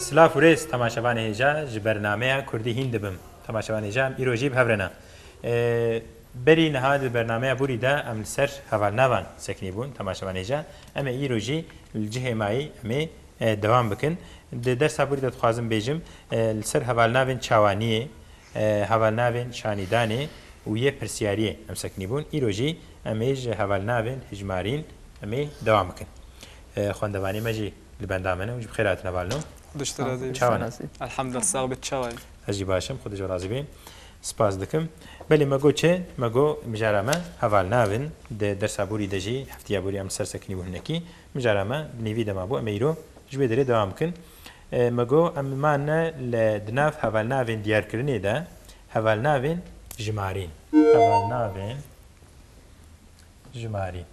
Silav û rêz temaşevanê hêja ji bernameya Kurdî hîn dibim. Temaşevanê hêja em îro jî bi hev re ne. Berî niha di bernameya Bûrî de em li ser hevalnavan sekinî bûn. Temaşevanê hêja em ê îro jî li cihê me yî em ê dewam bikin. Di dersa Bûrî de dixwazim bêjim li ser hevalnavên çawaniyê, hevalnavên şanîdanê û yê pirsiyariyê em sekinî bûn. Îro jî em ê ji hevalnavên hijmarîn em ê dewam bikin. Xwendevanê me jî li benda min e û ji bi xêr hatine bal no. Xwe dişt razî bî. Çawa ne? Elhamdulillah sax bî tu çawa yî? Ez jî baş im, xwe dij û razî bî. Spas dikim. Belê me got çi? Me got mijara me heval navin. Di dersa borî de jî heftiya borî em li ser sekinî û hinekî. Mijara me bi nîvî de mabû em ê îro ji wê derê dewam bikin. Me got em mane li di nav hevalnavên diyarkirinê de hevalnavên jimarîn. Hevalnavên jimarîn.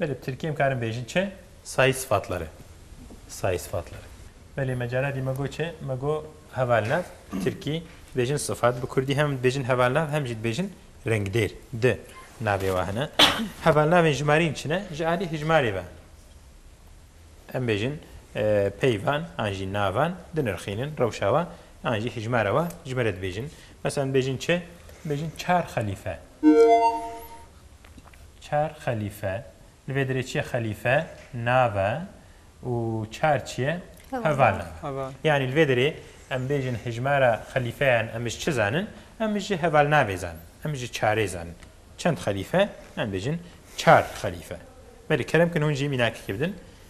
Belê bi tirkî em karin bêjin çi? Sayî sıfatları. Sayî sıfatları. Belê me cara dî me got çi? Me got hevalnav bi tirkî dibêjin sıfat, bi kurdî hem dibêjin hevalnav hem jî dibêjin rengdêr. Di navê wa hene. Hevalnavên jimarîn çi ne? Ji alî hijmarê ve. Em bêjin peyvan an jî navan dinirxînin rewşa wa. An jî hijmara we ji me re dibêjin. Meselan dibêjin çi? Dibêjin çar xelîfe. Çar xelîfe. Li vê derê çiye xelîfe nave û çar çiye heval nave. Yanî li vê derê em bêjin hijmara xelîfeyan em ji çi zanin? Em ji heval navê zanin. Em ji çarê zanin. Çend xelîfe? Em bêjin çar xelîfe. Belê kerem kin hûn jî mînakekê bidin.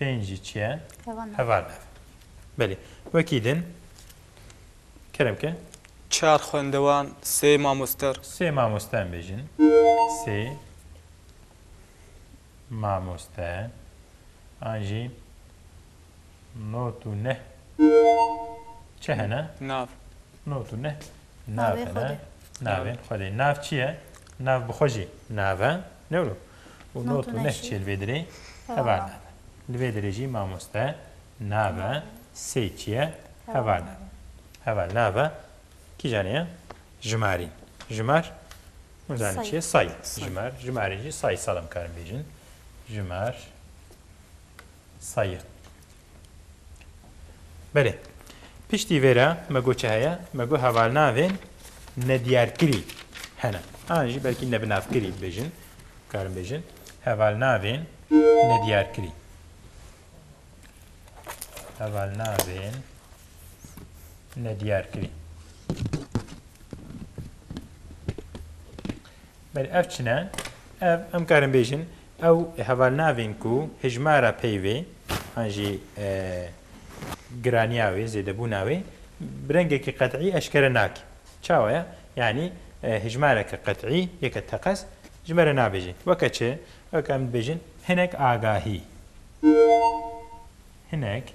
pênc jî çi ye? Hevanev. Belê. Wekî din kerem ke. Çar xwendewan, sê mamoster. Sê mamoster bêjin. Sê mamoster an jî not û neh çi hene? Nav. Not û neh nav hene. Navên Xwedê. Nav çi ye? Nav bi xwe jî nav e. Newro. û not û neh çê li vê dirê heva nabe. Li vê dirê jî mamoste, nabe, sê çiye heva nabe. Heva nabe kîjan ye? Jimarîn. Jimar hûn zanîn çi ye? Say. Jimar. Jimarîn jî say sal em karin bêjin. Jimar. Sayîr. Belê. Piştî vê re me got çi heye? Me got hevalnavên nediyarkirî hene. An jî belkî nebinavkirî bibêjin, bikarin bêjin. Hevalnavên nediyarkirî. Hevalnavên nediyarkirî. Belê ev çin e. Ev em karin bêjin ew hevalnavên ku hejmara peyvê an jî giraniya wê zêdebûna wê bi rengekî qet'î eşkere nake. Çawa ye? Yanî hejmareke qet'î yeke teqez ji me re nabêje. Weke çi? Weke em dibêjin hinek agahî. Hinek.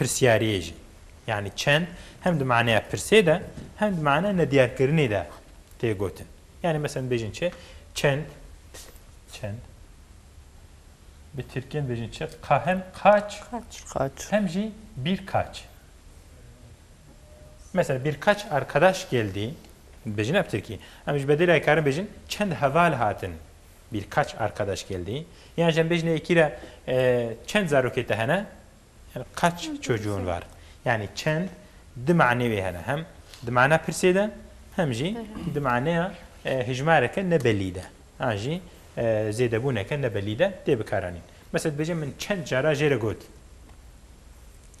pirsiyariyê jî yanî çend hem di maneya pirsê de hem di maneya nediyarkirinê de tê gotin. Yanî mesela dibêjin çi? Çend çend bi tirkiyen dibêjin çi? Ka hem kaç Kaç. Kaç. hem jî birkaç. Mesela birkaç arkadaş geldi dibêjin ne bi tirkî. Em ji bedêlê karin bêjin çend heval hatin. Birkaç arkadaş geldi. Yan jî em bêjin yekî re e, çend zarokê te hene? Yani kaç çocuğun var? Yani çend di manê wê hene. Hem di mana pirsê de hem jî di maneya e, hijmareke nebelî de. An jî e, zêdebûneke nebelî de tê bikaranîn. Mesela dibêje min çend cara jê re got.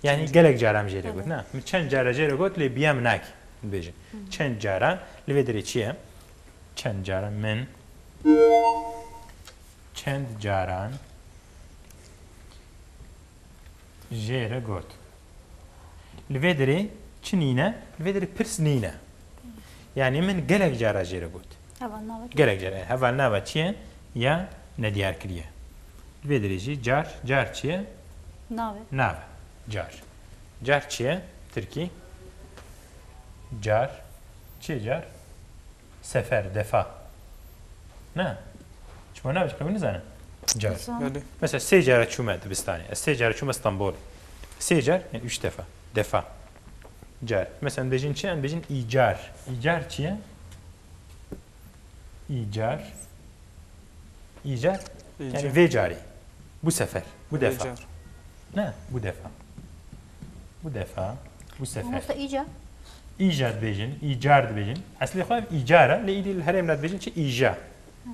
Yani gelek cara min jê re got. Na, min çend cara jê re got lê biya min nakî. Dibêje. Çend cara li vê derê çi ye? Çend cara min çend caran Jê re got. Li vê derê çi nîne? Li vê derê pirs nîne. Yanî min gelek cara jê re got. Gelek cara. Hevalnava çi ye? Ya nediyarkirî ye. Li vê derê jî car, car çi ye? Nav e. Nav e. Car. Car çi ye? Tirkî. Car. Çi ye car? Sefer, defa. Na. Çima navêt qewimî nizanin? Car. Belê. Mesela sê care çûme dibistanê. Ez sê care çûme Stenbolê. Sê car yani üç defa. Defa. Car. Mesela em dibêjin çi? Em dibêjin îcar. Îcar çi ye? Îcar. Îcar yani vê carê. Bu sefer. Bu defa. Na, bu defa. Bu defa, bu sefer. Mamosta îca? Îca dibêjin, îcar dibêjin. Eslê xwe ev îcar e, lê îdî li herêm re dibêjin çi îja.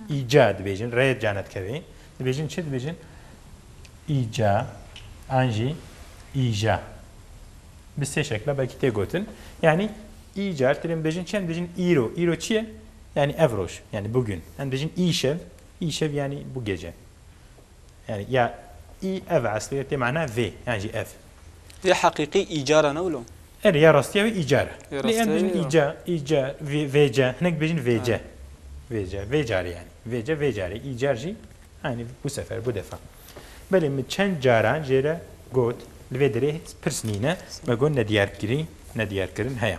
Îca dibêjin, rê cane dikevê. Dibêjin çi dibêjin? Îca, an jî îja. Bi sê şekla belkî tê gotin. Yanî îcar têrê em dibêjin çi? Em dibêjin îro. Îro çi ye? Yanî ev roj, yanî bugün. Em dibêjin îşev. Îşev yanî bu gece. Yani ya î ev eslê tê mana vê yan jî ev. Vê heqîqî îcara ne wilo? Erê ya rastiya wê îcara. Lê em dibêjin îca, îca, vêca, hinek dibêjin vêca. Vêca, vê carê yanî. Vêca, vê carê. Îcar jî yanî bu sefer, bu defa. Belê min çend caran jê re got li vê derê pirs nîne, me got nediyarkirî, nediyarkirin heye.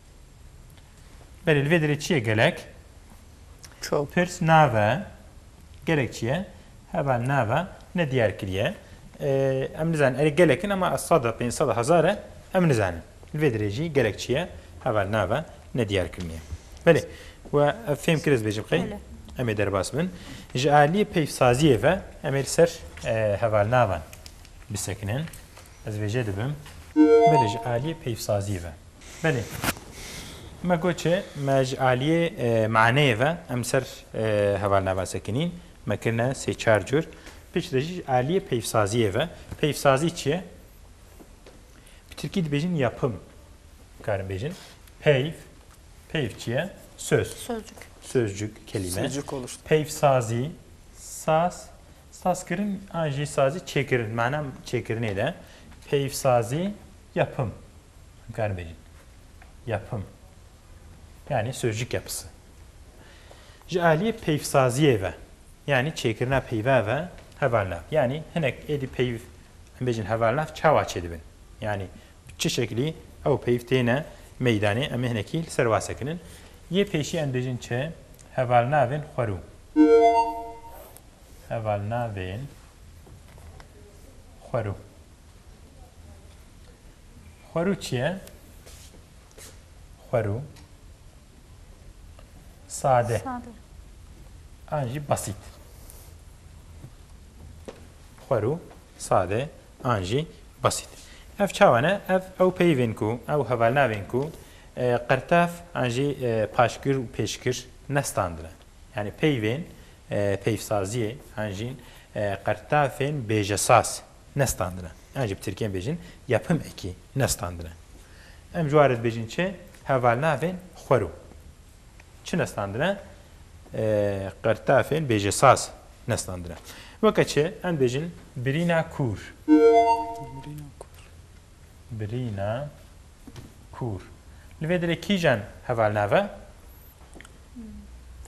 Belê li vê derê çi ye gelek? Çok. Pirs nave gelek çi ye? Heva nave ne diyar kiriye. Em nizanin erê gelekin ama ez sada, pênc sada, hezar e em nizanin. Li vê derê jî gelek çi ye? Heva nave ne diyar kiriniye. Belê we ev fêm kir ez bêjim qey em ê derbas bin. Ji aliyê peyvsaziyê ve em ê li ser heva navan bisekinin. Ez vê jê dibim. Belê ji aliyê peyvsaziyê ve. Belê. Me got çi? Me ji aliyê maneyê ve em li ser hevalnava sekinîn me kirine sê çar cûr. Pişt re jî ji aliyê peyvsaziyê ve. Peyvsazî çi ye? Bi tirkî dibêjin yapim. Dikarin bêjin peyv. Peyv çi ye? Söz. Sözcük. Sözcük, kelîme. Sözcük konuştu. Peyvsazî, saz. Sazkirin an jî sazî çêkirin mana çêkirinê de peyivsazî yapım bikar bêjin. Yapım yanî sözcük yapısı. Ji aliyê peyivsaziyê ve yanî çêkirina peyva ve hevalnav yanî hinek êdî peyv em bêjin hevalnav çawa çêdibin yanî bi çi şeklî ew peyv têne meydanê em ê hinekî li ser wasekinin. Yê pêşî em dibêjin çi hevalnavên xwerû. heval navên xwerû. Xwerû çi ye? Xwerû sade an jî basît. Xwerû sade an jî basît. Ev çawa ne? Ev ew peyvên ku ew hevalnavên ku qirtev an jî paşgir û pêşgir ne standine. Yanî peyvên peyvsaziyê an jî qertafên bêjesaz ne standine. An jî bi tirkiyê bêjin yapım eki ne standine. Em ji warê dibêjin çi? Hevalnavên xwero. Çi ne standine? Qertafên bêjesaz ne standine. Weke çi? Em dibêjin birîna kûr. Birîna kûr. Li vê dilê kîjan hevalnav e?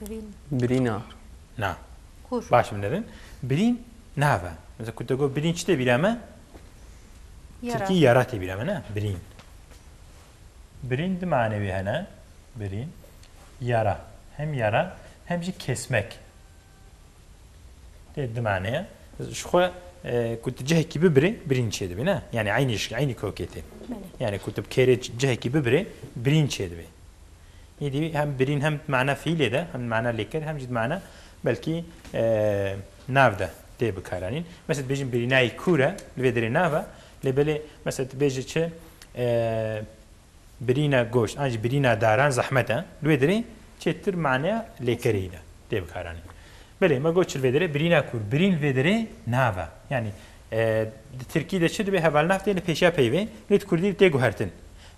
Birîn. Birîna. Na. Kûr. Baş binêrin. Birîn nav e. Mesela ku te got birîn çi tê bîra me? Yara. Tirkî yara tê bîra me ne? Birîn. Birîn di manewê hene. Birîn. Yara. Hem yara hem jî kesmek. Tê dimane ye. Ji xwe ku tu cihekî bibirê birîn çêdibê ne? Yanî eynî ji eynî kokê tê. Yanî ku tu bi kêrê cihekî bibirê birîn çêdibê. Êdî hem birîn hem mana fîlê de hem mana lêker hem jî mana belkî nav de tê bikaranîn. Mesela bêjin birînayî kûr e li vê derê nav e lê belê mesela tu bêjî çi Birîna goşt an jî birîna daran zehmet e. Li wê derê çêtir maneya lêkerî de tê bikaranîn. Belê me got çi li vê derê birîna kûr. Birîn li vê derê nav e. Yanî di tirkî de çi dibe hevalnav tê li pêşiya peyvê lê di kurdî de tê guhertin.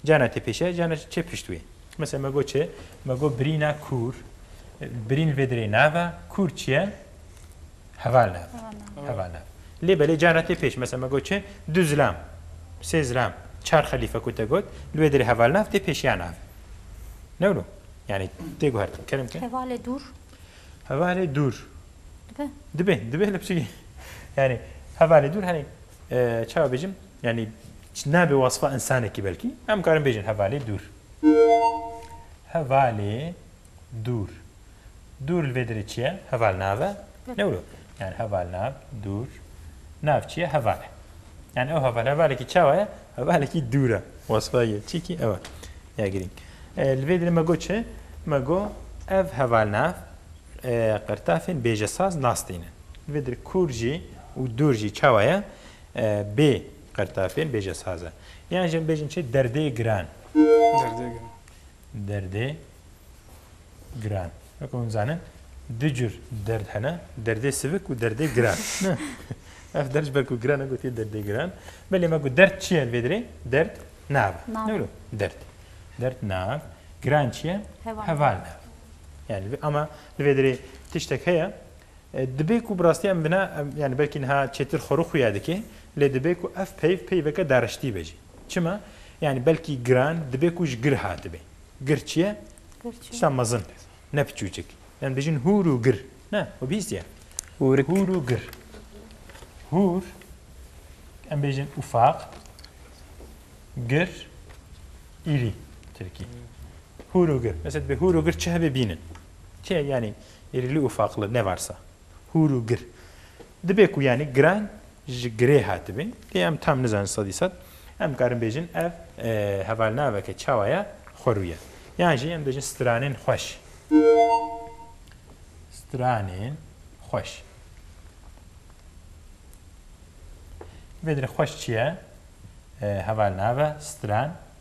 Carna tê pêşiya carna jî tê pişt wê. Mesela me got çi? Me got birîna kûr. Birîn li vê derê nav e. Kûr çi ye? Heva nav. Heva nav. Lê belê cara tê pêş. Mesela me got çi? Du zilam. Sê zilam. Çar xelîfe ku te got, li wê derê heval nav tê pêş ya navê. Ne wilo? Yanî tê guhertin. Kerem ke? Hevalê dûr. Hevalê dûr. Dibe? Dibe. Dibe li piştî. Yanî hevalê dûr herî çawa bêjim? Yanî nabê wesfa însanekî belkî. Em karin bêjin hevalê dûr. Hevalê Dûr. Dûr li vê derê çi ye? Heval nav e. Newro. Yani heval nav, dûr. Nav çi ye? Heval e. Yani ew heval, hevalekî çawa ye? Hevalekî dûr e. Wesfa yê çi kî ew e. Ya girîng. Li vê derê me got çi? Me got ev heval nav qirtafên bêjesaz nas tînin. Li vê derê kûr jî û dûr jî çawa ye? Bê qirtafên bêjesaz e. Yan jî em bêjin çi? Derdê giran. Derdê giran. Derdê giran. Weke hûn dizanin du cur derd hene, derdê sivik û derdê giran. Ev der ji ber ku giran e gotiye derdê giran. Belê me ku derd çi ye vê dirê? Derd nav e. Nav. Newlo derd. Derd nav. Giran çi ye? Heval. Heval nav. Yani li vê- ama li vê dirê tiştek heye e, dibê ku bi rastî em bina em yani belkî niha çêtir xwe rû xuya dike lê dibê ku ev peyv peyveke dariştî be jî. Çima? Yanî belkî giran dibe ku ji gir hatibe. Gir çi ye? Tişta mezin, ne piçûçik. Yan dibêjin hûr û gir. Ne, we bihîstiye. Hûrik. Hûr û gir. Hûr, em bêjin ufaq, gir, îrî, tirkî. Hûr û gir. Mesela dibê hûr û gir çi hebe bînin. Çi ye? Yanî îrîli û ufaqli ne varsa. hûr û gir. Dibe ku yanî giran ji girê hatibin. Lê em tam nizanin sedî sed. Em dikarin bêjin ev hevalnaveke çawa ye xwerû ye. Yan jî em dibêjin stranên xweş. Stranên xweş. Vê derê xweş çi ye? Hevalnave, stran,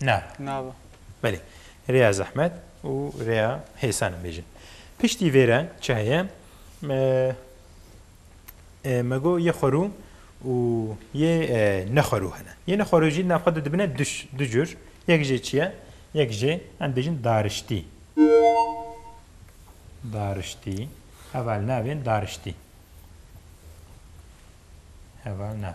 Na. Nava. Belê. Rêya zehmet û rêya hêsan em bêjin. Piştî vê re çi heye? Me got yê xwerû û yê nexwerû hene. Yê nexwerû jî di nav xwe de dibine du cur. Yek jê çi ye? Yek jê em dibêjin dariştî. Dariştî. Heval nav ên dariştî. Heval nav.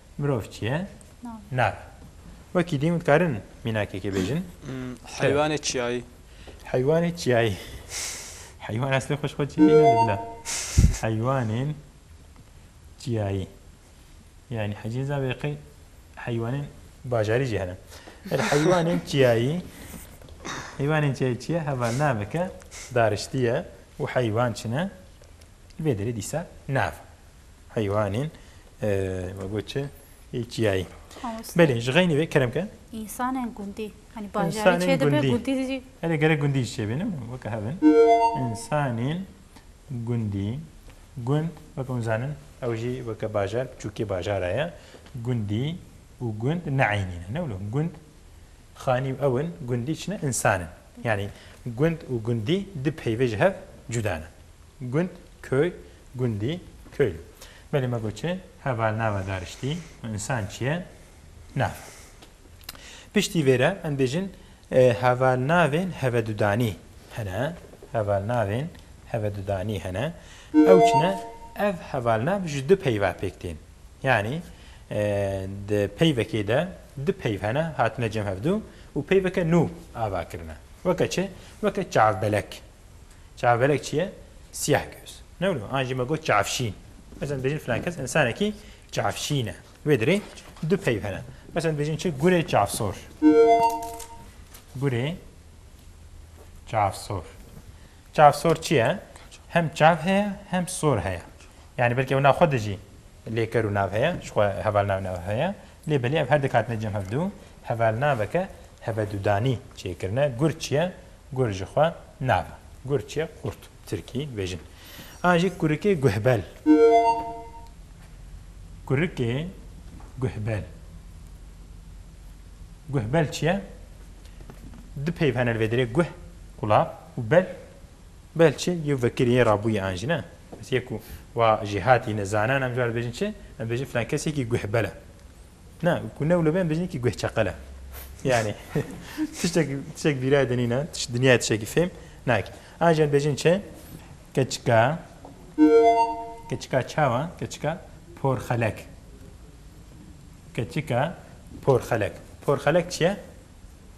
Mirov çi ye? Nav. Wekî din dikarin mînakekê bêjin? Heywanê çiyayî. Heywanê çiyayî. Heywan eslê xwe ji xwe çê tîne bila. Heywanên çiyayî. Yani hecê za vê qey heywanên bajarî jî hene. Erê heywanên çiyayî. Heywanên çiyayî çi ye? Heval naveke dariştî ye û heywan çi ne? Li vê derê dîsa nav. heywanên me got çi çiyayî. Belê ji xeynî vê kerem ke. İnsanên gundî hani bajarî çê dibe gundî jî. Hele gerek gundî jî çê bînim weke hevin. İnsanên gundî gund weke hûn zanin ew jî weke bajar biçûkê bajara ye. Gundî û gund neeynî ne ne wilo gund xanî û ewin gundî çi ne insan in. Yanî gund û gundî di peyvê ji hev cuda ne. Gund köy Gundî, Köy. Belê me got çi? Heval nava dariştî û însan çi ye? Nav. Piştî vê re em bêjin hevalnavên hevedudanî hene. Hevalnavên hevedudanî hene. Ew çi ne? Ev hevalnav ji du peyva pêk tên. Yanî di peyvekê de du peyv hene hatine cem hevdu û peyveke nû ava kirine. Weke çi? Weke çavbelek. Çavgerek çi ye? Siyeh göz. Ne wilo? An jî me got çavşîn. Meselên dibêjin filan kes însanekî çavşîn e. Wê dirê du peyv hene. Meselên dibêjin çi? Gurê çavsor. Gurê çavsor. Çavsor çi ye? Hem çav heye hem sor heye. Yani belkî ew nav xwe de jî lêker û nav heye, ji xwe hevalnav nav heye. Lê belê ev her dek hatine cem hevdu hevalnaveke hevedudanî çêkirine, gur çi ye, gur ji xwe nava. Gur çi ye, qurt bi tirkî dibêjin. An jî kurikê guhbel. Kurikê guhbel. Guhbel çi ye? Du peyv hene li vê derê, guh, qulap û bel, Belçê yew vekirî yê rabûyî an jî ne. Ez yê ku wa jî hatî ne zanan em cara dibêjin çi? Em dibêjin filan kesekî guhbel e. Na, ku ne wilo be em dibêjin yekî guhçeqel e. Yanî tiştekî tiştekî bîrayê de nîne, tiş dinyayê tiştekî fêm nake. An jî em dibêjin çi? Keçika keçika çawa? Keçika porxelek. Keçika porxelek. Porxelek çi ye?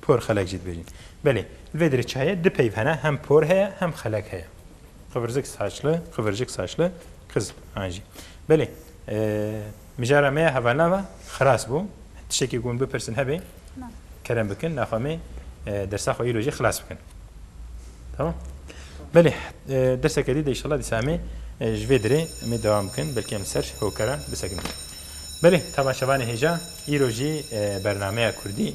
Por xelek jî dibêjin. Belê, li vê derê çayê du peyv hene, hem por heye, hem xelek heye. Qivirzik saçli, qivircik saçli, qiz an jî. Belê, mijara me ya hevalava xilas bû. Tiştekî ku min bipirsin hebe kerem bikin, daxwe me dersa xwe îro jî xilas bikin. Tamam? Belê, derseke dî de înşallah dîsa em ê ji vê derê em ê dewam bikin, belkî em li ser hokara bisekinin. Belê, tama şevanê hêja, îro jî bernameya kurdî.